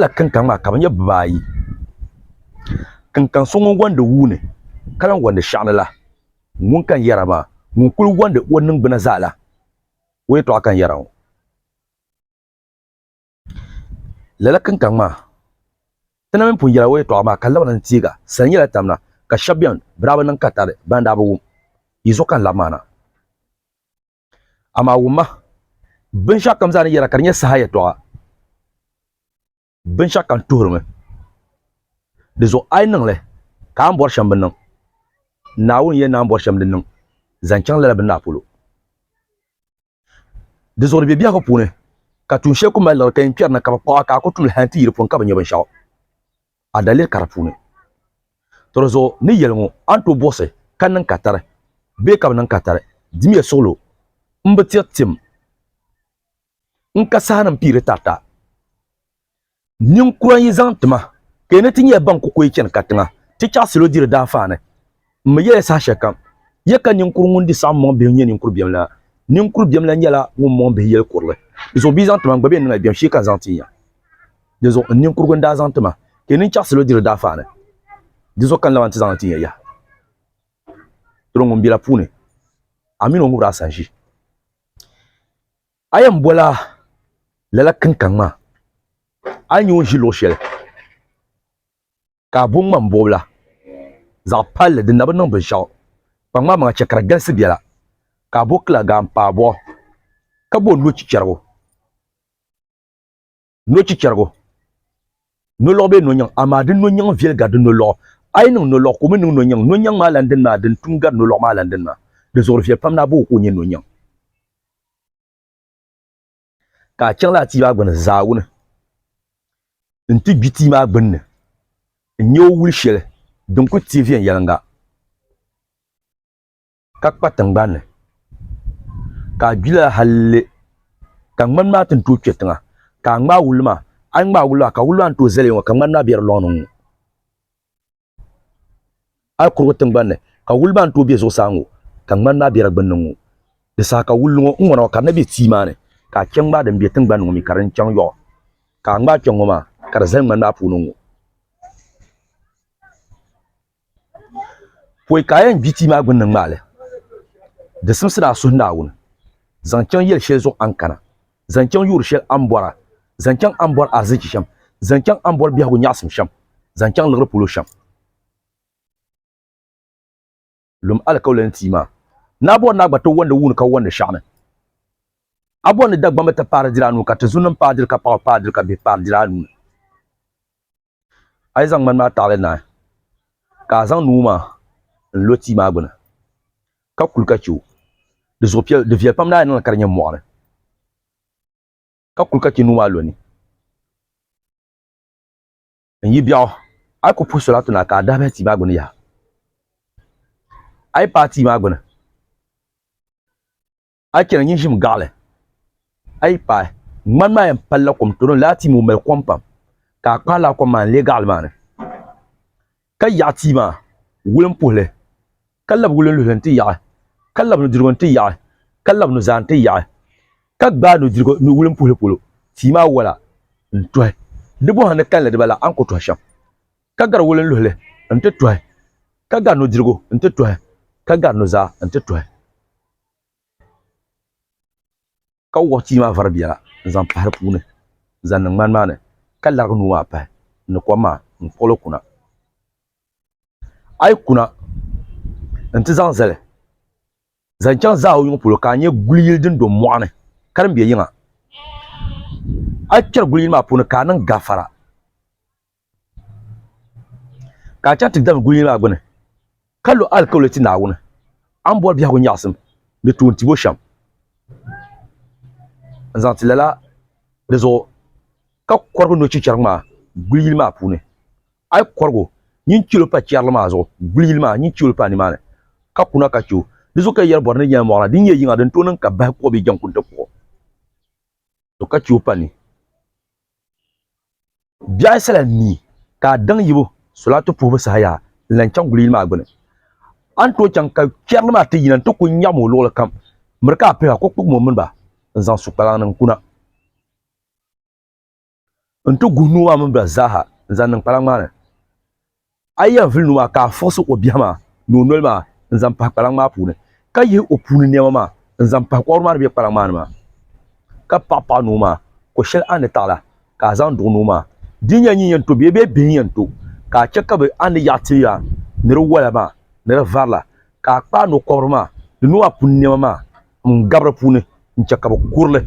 la kinkaŋ maa ka bi nyɛ bibaayi kinkaŋ so ŋun gondi wuuni ka lahi gondi shɛŋa ni la ŋun ka n yɛra maa ŋun kuli gondi o ningbuna zaa la o yɛltɔɣa ka n yɛra ŋɔ lala kinkaŋ maa ti na mini pun yɛla o yɛltɔɣa maa ka labina n teega sani nyɛla tamna ka shɛba bɛni bi daa bi niŋ katari ban daa bi wum yi zuɣu ka n labi maa na. Amaa wumma, binshɛɣu kam zaa ni yɛra ka di nyɛ saha yɛtɔɣa, binshɛɣu kam tuhirimi. Di zuɣu a yi niŋ li, ka a ni bɔri shɛm bi niŋ, Naawuni yɛn naan bɔri shɛm din niŋ zaŋ chaŋ lala bini maa polo. Di zuɣu di be biɛhigu puuni, ka tuun shɛli ku mali liɣiri ka yɛn kpɛri na ka bɛ kpuɣ a ka a ku tum li hal nti yi di puuni ka bi nya binshɛɣu. a daliri kara puuni. Tɔri zuɣu ni yɛli ŋɔ a ni tooi buɣisi ka niŋ ka tari bee ka bi niŋ ka tari dimiya suɣilo n bi tiri tim n ka saha ni n piiri tarita ninkura n yi zaŋ ti ma ka yi ni ti nyɛla ban ku koyi chani katiŋa ti chaɣisilo diri daafaani. M mi yɛla saha shɛli kam, ya ka ninkur ŋun di saɣim mɔŋ bihi nyɛ ninkur biɛm la? Ninkur biɛm la nyɛla ŋun mɔŋ bihi yɛli kurili. Dinzuɣu bia zaŋ ti ma, n gba bɛn niŋla biɛm shee ka n zaŋ ti ya. Dinzuɣu n ninkurugu n daa zaŋ ti ma, ka yi ni chaɣ salo diri daafaani, dinzuɣu ka n laban ti zaŋ li ti ya yaha. Doro ŋun bela puuni, a min o ŋubira a sanʒi. A yɛn bɔla lala kinkaŋ maa, a ni nya o ni ʒi luɣ shɛli. ka a bo ŋmambuɣibila zaɣ palli din na bi niŋ binshɛɣu. Kpa ŋmamaŋa chɛ ka di galisi biɛla, ka a bo kilaagaanpaabɔɣu, ka bo nochichɛrigu, nochichɛrigu, nolɔɣu bee nonyiŋ, amaa di nonyiŋ viɛli gari di nolɔɣu. A yi niŋ nolɔɣu, ka o mi niŋ nonyiŋ, nonyiŋ maa lan dini maa din tum gari nolɔɣu maa lan dini maa. Di zuɣuri viɛli pam ni a bo o ka o nyɛ nonyiŋ. ka a chaŋ laa tia maa gbuni zaawuni n-ti gbi tia maa gbunni n-nya o wuli shɛli din kuli teei viɛnyɛliŋga ka kpa tiŋgbani ni, ka a gbi lala hal li ka ŋmani maa ti ni tooi kpe tiŋa ka a ŋmaai wulli maa. A ni ŋmaai wulli maa ka wulli maa ni tooi zali ya ŋɔ ka ŋmani maa be di lɔŋ ni ŋ-ŋɔ. a yi kuri ŋɔ tiŋgbani ni, ka wuli maa ni tooi be zuɣusaa ŋɔ, ka ŋmani maa be di gbinni ŋɔ. Di saha ka wulli ŋɔ, ŋ-ŋɔna ŋɔ, ka di na be tia maa ni, ka a che ŋ-ŋmaai din be tiŋgbani ni ŋɔ mi ka din chaŋ yɔɣu, ka a ŋmaai kpe ŋ-ŋɔ maa, ka di zali ŋmani maa puuni ŋɔ. Pɔi ka a yɛn gbi tia maa gbinni ŋ-ŋmaai li, di simsi ni a suhi Naawuni, zaŋ chaŋ yɛli shɛli zuɣu a ni kana. zaŋ chaŋ yuuri shɛli a ni bɔra, zaŋ chaŋ a ni bɔri ahizichi shɛm, zaŋ chaŋ a ni bɔri biɛhigu nyaɣisim shɛm, zaŋ chaŋ liɣiri polo shɛm. Lum alikauli ni ti maa. Ni a bɔri ni a gba ti wɔndi wuuni ka wɔndi shɛɣu ni, a bɔri ni Dagbamba ti paari diri a nuu ka Tizunim paai diri ka Paɣaba paai diri ka Bihi paari diri a nuu ni. a yi zaŋ ŋmani maa taɣili naai, ka a zaŋ nuu maa n-lo tia maa gbini, ka kuli ka chɛ o. Di zuɣu piɛl, di viɛl pam naai niŋli ka di nyɛ mɔɣiri, ka kuli ka chɛ nuu maa lo ni. N yi biɛɣu, a yi ku puhi soli a tuna ka a dahi bahi tia maa gbini yaha. A yi paai tia maa gbini. a yi chɛna nyin ʒimi gaɣili a yi paai ŋmani maa yɛn palila kom tooni laa tia maa o mali kom pam ka a kpaai laa kom maa n-leei gaɣili maa ni ka yaɣi tia maa wuli m-puhi li ka labi wuli n-luhi li nti yaɣi ka labi nudirigu nti yaɣi ka labi nuzaa nti yaɣi ka gbaai nudirigu ni wuli m-puhi li polo tia maa wola n-tuhi di buɣa ni kalinli dibaa la a ni ku tuhi shɛm ka gari wuli n-luhi li nti tuhi ka gari nudirigu nti tuhi ka gari nuzaa nti tuhi ka wuɣi tia maa vari biɛla n zaŋ pahi di puuni n zaŋ niŋ ŋmani maa ni ka larigi nuu maa pahi ni kom maa n kpuɣili kuna a yi kuna n ti zaŋ zali zaŋ chaŋ zaawuni ŋɔ polo ka a nya guli yili din do mɔɣuni ka din be yiŋa a yi kpɛri guli yili maa puuni ka a niŋ gafara. Ka a chaŋ ti David gulinli maa gbini, ka lo alikauli ti Naawuni, a ni bɔri biɛhigu nyaɣisim ni tuun tibu shɛm n-zaŋ ti lala di zuɣu, ka kɔrigi no chichɛrigu maa guli yili maa puuni. A yi kɔrig o nyin chɛl o pa chɛrili maa zuɣu guli yili maa, nyin chɛ o pa nimaani, ka kuna ka chɛ o. Di zuɣu ka yi yɛri bɔri ni nyɛla mɔɣila din nyɛ yiŋa din tooi niŋ ka bahi kuɣ bee jɛŋkuŋ ti kuɣ o, ka chɛ o pa ni. Biɛɣu yi sala mi ka a daŋ yibu solaatu puhibu saha yaa n lan chaŋ guli yili maa gbini. A ni tooi chaŋ ka kpɛrili maa ti yina nti ku nyaɣim o luɣili kam, miri ka a pihi a ko kpugim o mini ba n-zaŋ su kpalaŋ ni n-kuna nti guhi nuu maa mini ba zaaha n-zaŋ niŋ kpalaŋ maa ni. A yi yɛn vuli nuu maa ka a fɔɣisi o biɛhi maa ni o noli maa n-zaŋ pahi kpalaŋ maa puuni, ka yihi o puuni nɛma maa n-zaŋ pahi kɔbiri maa ni be kpalaŋ maa ni maa, ka paɣi paɣi nuu maa, ko shɛli a ni taɣi la ka a zaŋ duɣi nuu maa. Di nya nyin yɛn to bee bɛ bihi yɛn to, ka a chɛ ka bɛ a ni yaɣi ti ya ni di wala maa ni di vari la, ka a kpaai no kɔbiri maa ni nuu maa puuni nɛma maa m-gabi di puuni n-chɛ ka bɛ kuri li.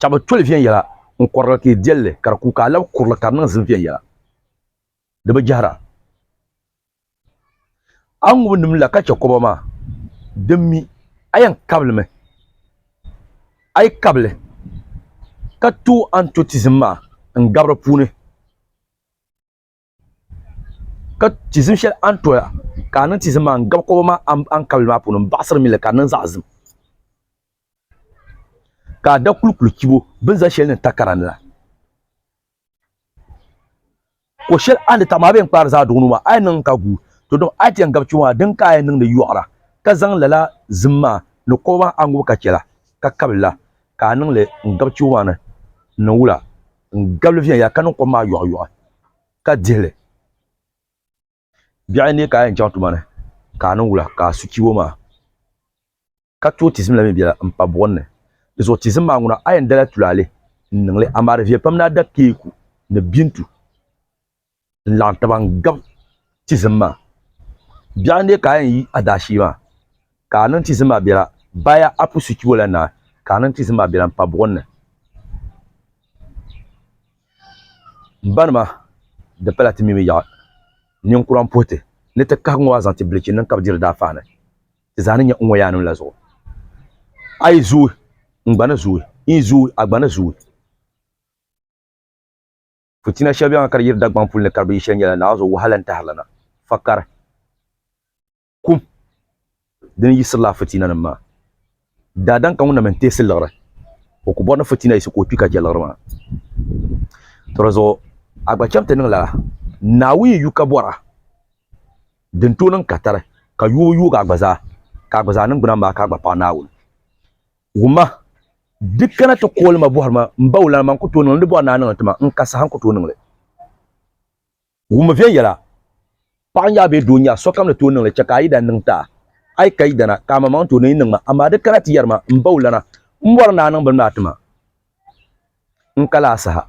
Ka bɛ toli viɛnyɛla n-kɔrili ka yi deli li ka di ku ka a labi kurili ka di niŋ zim viɛnyɛla. Di bi jɛhira. A ŋubi nim la ka chɛ kɔba maa din mi a yɛn kabili mi. A yi kabi li ka tooi antotizim maa n-gabi di puuni. ka tizim shɛli a ni toya ka a niŋ tizim maa n gabi koba maa ankabili maa puuni n baɣasiri mili ka di niŋ zaɣ ʒim ka a da kulikuli chibo bi ni zaŋ shɛli niŋ takara ni la ko shɛli a ni taɣam a bee n kpaari zaa duɣu nuu maa a yɛn niŋ ka guui to dama a ti yɛn gabi chibo maa din ka a yɛn niŋdi yoɣara ka zaŋ lala zim maa ni koba maa a ŋubi ka chɛla ka kabili la ka a niŋ li n-gabi chibo maa ni n-niŋ wula? N gabi li viɛnyɛla ka niŋ kom maa yɔɣiyɔɣi ka dihi li. Biɛɣuni n-neei ka a yɛn chaŋ tuma ni ka a niŋ wula? Ka a su chibo maa ka tooi tizim la mi biɛla m-pa buɣim ni. Di zuɣu tizim maa ŋuna, a yɛn dala tulaale n-niŋ li, amaa di viɛ pam ni a da keeku ni bintu. n laɣim taba n gab tizim maa biɛɣu n dee ka a yɛn yi a daashee maa ka a niŋ tizim maa biɛla baya apu suchi o la naai ka a niŋ tizim maa biɛla n pa buɣim ni m ba nima di pala ti mi mi yaɣi ninkura n puhi ti ni ti kahi ŋɔ maa zaŋ ti bilichi niŋ ka bi diri daa faani ti zaa ni nyɛ n ŋɔ yaa nim la zuɣu a yi zooi n gba ni zooi n yi zooi a gba ni zooi Putina shɛli bɛŋa ka di yiri Dagbaŋ puli ni ka di bi yi shɛli nyɛla Naazo wahala n-tahirila na, fakari, kum dini yisirila Fitinanim maa. Daadam ka ŋun na mi n-teesi liɣiri, o ku bɔri ni Fitina yisi ka o kpi ka je liɣiri maa. To di zuɣu a gba cham ti niŋ lala, Naawuni yi yu ka bɔra, din tooi niŋ katari ka yuubu yuugi a gba zaa, ka a gba zaa niŋgbuna maa ka a gba paɣi Naawuni. Wumma, di kana ti kooli ma bɔhiri ma m-bawulana man ku tooi niŋli ni bɔri ni a niŋli ti ma n-ka saha n-ku tooi niŋli. Wumma viɛnyɛla, paɣa n-nya a bee doo n-nya a, sokam ni tooi niŋli chɛ ka a yidana niŋ ti a. A yi ka yidana, ka amaŋmaŋ tooi ni yi niŋ ma, amaa di kana ti yɛri ma m-bawulana m-bɔri ni a niŋ bini maa ti ma n-ka lala saha.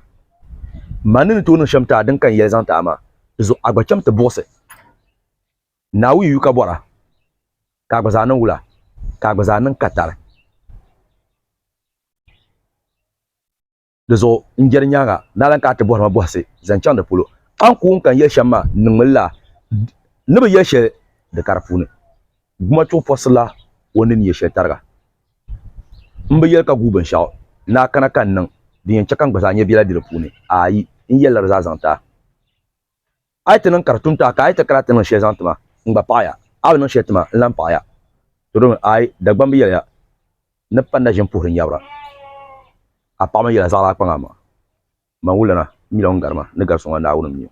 Man ni ni tooi niŋ shɛm ti a din ka n yɛli zaŋ ti a maa, di zuɣu a gba cham ti buɣisi. Naawuni yu ka bɔra, ka a gba zaa niŋ wula, ka a gba zaa niŋ katari. Di zuɣu n-jɛri nyaaŋa, ni a lan kana ti bɔhiri ma bɔhisi zaŋ chaŋ di polo, a ni ku wum ka n yɛli shɛm maa n niŋmi lala, n ni bi yɛli shɛli di kari puuni. Gumachuɣu pɔrisirila o ni ni nyɛ shɛli tariga. M bi yɛli ka guui binshɛɣu ni a kana ka n niŋ din yɛn chɛ ka n gba zaa nyɛ biɛla be di puuni. Aai! N yɛlila di zaa zaŋ ti a. A yi ti niŋ ka di tum taha ka a yi ti kana ti niŋ shɛli zaŋ ti ma, n gba paɣi ya. A bi niŋ shɛli ti ma, n lan paɣi ya. To domi, aai, Dagbamba bi yɛli ya ni panda ʒini puhiri nyabira. A paɣimi yɛla zaɣila a kpaŋ a maŋa. Man wulana, m mi la ŋun gari ma ni gari so ŋɔ, Naawuni m-mi o.